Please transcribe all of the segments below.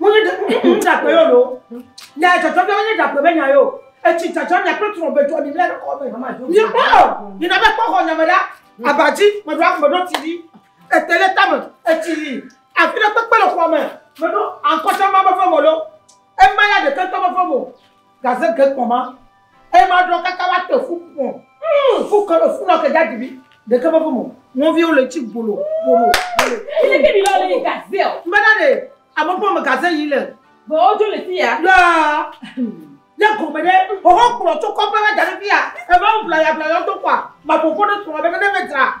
Wonye ɖakpe yɔ ɖo. Nya dzɔdzɔ ɖe wonye ɖakpe be nya yɔ. Etsi dzadzɔ nya kple trɔ be dzɔ mi bla ɖe kɔ be. Nye kpɔ o. Yina be kpɔ xɔ nya me ɖa. Abadzi me ɖo me ɖo ti ɖi. Ete le tame etsi li. Afi ɖe kpekpe le xɔa me. Me ɖo ankɔtsa ma be fɔmɔ lo. Ema ya ɖeke tɔ be fɔmɔ. Gaze ge kpɔ ma, eye ma ɖɔ kaka wa te fu pɔ. Mm, fu kalo fu nɔ ke ja dibi. De ke me fu mo. Mo vi ole ci bolo, bolo. Ile ke bi lɔ le gaze o. Mbe na de, amo pɔ me gaze yi le. Bo o jo le ti ya. La. Le ko me de, o ho kpɔ to ko pa la gaze ti ya. E ma o bla ya bla yo to kwa. Ma bo ko de tro be ne me tra.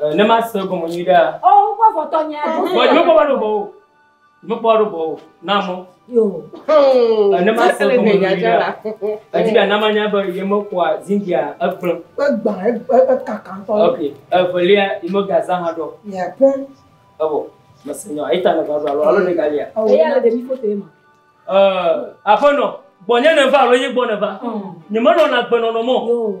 Eh, ne ma se gɔme nyui ɖea. Ɔ oh, wokpɔ fɔtɔ nyɛ. Bɔ nyɛ kpɔ balo bɔ o. Nyɛ kpɔ balo bɔ o. Na mɔ. Yo. Oh. Eh, ne ma se gɔme nyui ɖea. Edi bia nama nya be yɛ me kpɔa zindia egblẽ. Egba ekaka ŋtɔ. Ok. Evelia yi me gaza hã ɖɔ. Yɛ pɔ. Evo. Mese nyɔ. Eta ne va ɖo alo alo ne galia. Eya le ɖevi foto yɛ ma. Eh, aƒenɔ. Gbɔ nyɛ ne va alo yi gbɔ ne va. Nyɛ me nɔ na gbe nɔnɔ mɔ. Yo.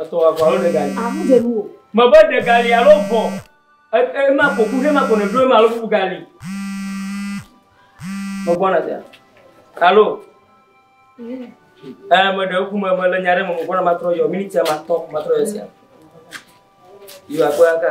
Etɔ aʋa alo ɖe gali. Amu dze nuwò. Me be ɖe gali alo vɔ. E, ema ko ku hema ko nèɖo ema alo bubu gali. Megbɔna sia. Alo. Ɛ, meɖe ŋku me, mele nya ɖe me, megbɔna matrɔ yɔ, minitia matɔ, matrɔ yɔ sia. Yɔ akpɔya ka.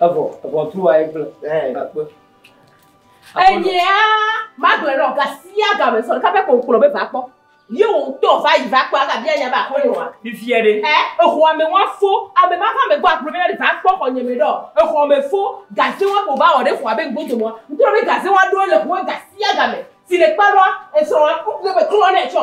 Evɔ, ʋɔtru aye kple ekpe. Enyea magblɔe nɔ ga sia ga me sɔ ɖeka ƒe kpɔnkplɔ be va kpɔ. Ye wò ŋutɔ va yi va kpɔ ava bia nya be akpɔ ye oa? Vivie ɖe. Ɛ exɔa me wa fo ame ma va me gbɔ agblɔ be na ɖe va kpɔ xɔ nye me ɖɔ. Exɔ me fo gaze wa ko va wɔ ɖe xɔa be ŋgbe dome wa. Ŋtrɔ be gaze wa ɖoe le xɔa ga sia ga me si le kpa ɖoa esrɔ̃ wa ŋgbe klɔ nɛ tsɔ.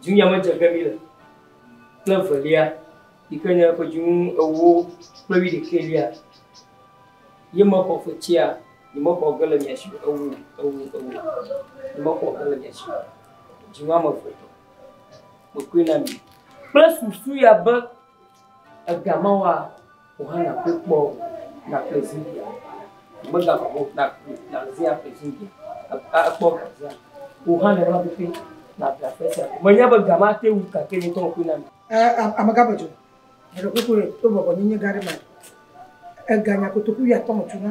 Dzunya me dze ge mí le kple evelia, yi ke nye ƒe dzinu ewo kple wuiɖekɛlia, ye mexɔ fetsia, nyemexɔ ge le mia si o, ewo, ewo, ewo, nyemexɔ ge le mia si o, dzinu ame eve tɔ, mekɔe na mi. Kple susu ya be. Ega mawa o hã nàkpɔe kpɔ nàƒle Zibia. Megaʋã o hã nàzẽ aƒle Zibia, akpɔ ga zea o hã nenema pɛpɛ nàƒle aƒe sia aƒe. Menya be ga ma ate ŋu gake nye ŋutɔ meƒoe na mi. Amegã me dzo, meɖe kuku ɖe to bɔbɔ nye nye gã ɖe ma. Ega nya kotoku wuiatɔ̃ me tu na.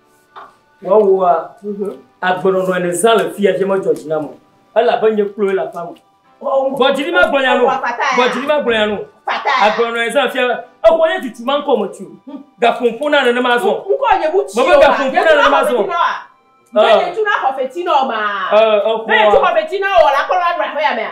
Wɔwɔa, mhm. agbenɔnɔe le zã le fia dze medzɔ dzi nam o, elabe nye kloe le aƒea me. Gbɔdzili ma gblɔnya no, gbɔdzili ma gblɔnya no, agbenɔnɔe zã fia, exɔ nye tutu ma ŋkɔ metsi o, hm. gaƒo ŋƒo na nenema azɔ. Ŋkɔ nye mu tsi o, mebe gaƒo ŋƒo na nenema azɔ. Jɔ nye tu na xɔ feti na o ma, ne tu xɔ feti na o, la kɔ la nɔ aƒea mea.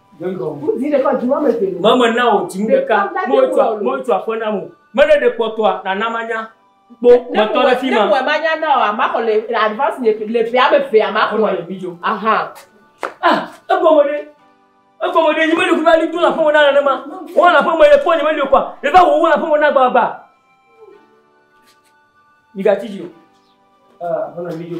Mama na wò dzinu ɖeka. Mɔtu aƒe na mo. Mele ɖe kpɔtɔa na na manya. Kpo kpɔtɔ ɖe fi ma. Ne wòe manya na wò ama xɔ le advance le fi le fi ame fi ama xɔ. Mama le mi dzo. Aha. Ah, ego mo ɖe. Ego mo ɖe. Nyimele kuba li tuna fún mo na nana ma. Wọ́n la fún mo ye fún nyimele kwa. Ebe wo wọ́n la fún mo na gba gba. Yiga tiji o. Ah, mama le mi dzo.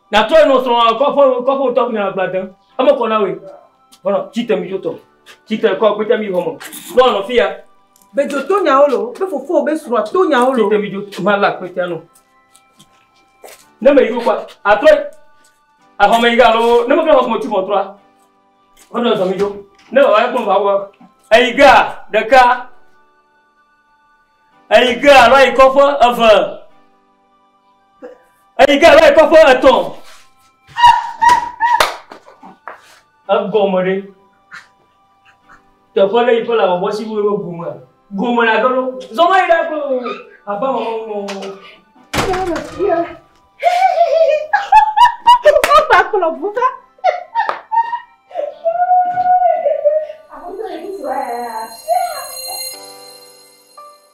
Natrɔe nɔ srɔ̃a kɔ ƒe kɔ ƒe tɔgbi na agba dem. Eme kɔ na we. Bɔnɔ tsi te mi dzo tɔ. Tsi te kɔ kpete mi hɔmɔ. Nɔ nɔ fi ya. Be dzo to nyawo lo. Be fofo be srɔ̃a to nyawo lo. Tsi te mi dzo ma la kpete no. Ne me yi kwa atrɔe. Ahɔ me yi ga lo. Ne me kle hɔ mo tsi mo trɔa. Bɔnɔ zɔ mi dzo. Ne wa wa kpɔn va wa. Eyi ga ɖeka. Eyi ga la yi kɔ ƒe eve. Eyi ke va yi kɔƒe etɔ̃. Egɔme ɖe. Teƒe ɖe yi ke le bɔbɔ si wole gome. Gome la gelo. Zɔma yi ɖe ko. Aba mama mama. Papa kplɔ buka. Abuja yi sɔ ya.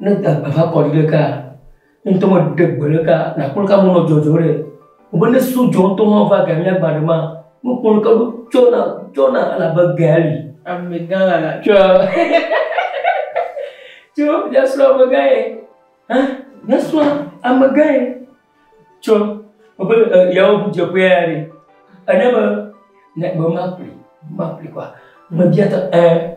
Ne da gbe va kɔ ɖi ɖe kaa, ne ŋutɔ me ɖe gbe ɖe kaa, nakpɔ leke amewo nɔ dzɔdzɔ ɖɛ. Vɔ ne sɔ dzɔ ŋutɔ ma va ga mía gba ɖe maa, nukpɔ leke ɖo tsɔna tsɔna elabe gea li. Amegã lala. Tsɔ tsɔ míasrɔ amegã ye. Hã míasrɔ amegã ye. Tsɔ woƒe e yawo ŋu dzeƒe ya ɖe. Enye be ne be ma ƒli ma ƒli kɔa mebia ta ẽ.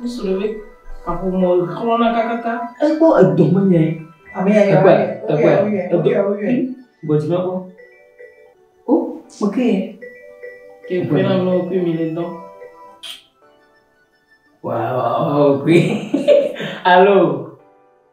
Nusrɔ̃vi, kaƒomɔ xlɔ̃na kakaka. Ekpɔ edɔme nɛ. Ame ya ya. Ekpɔ ekpɔ. Gbɔdzi mekpɔ. O, mo ke ye. Ke kpe na mlɔ kpe mi le dɔn. Wow, wow, wow, kpe. Alo.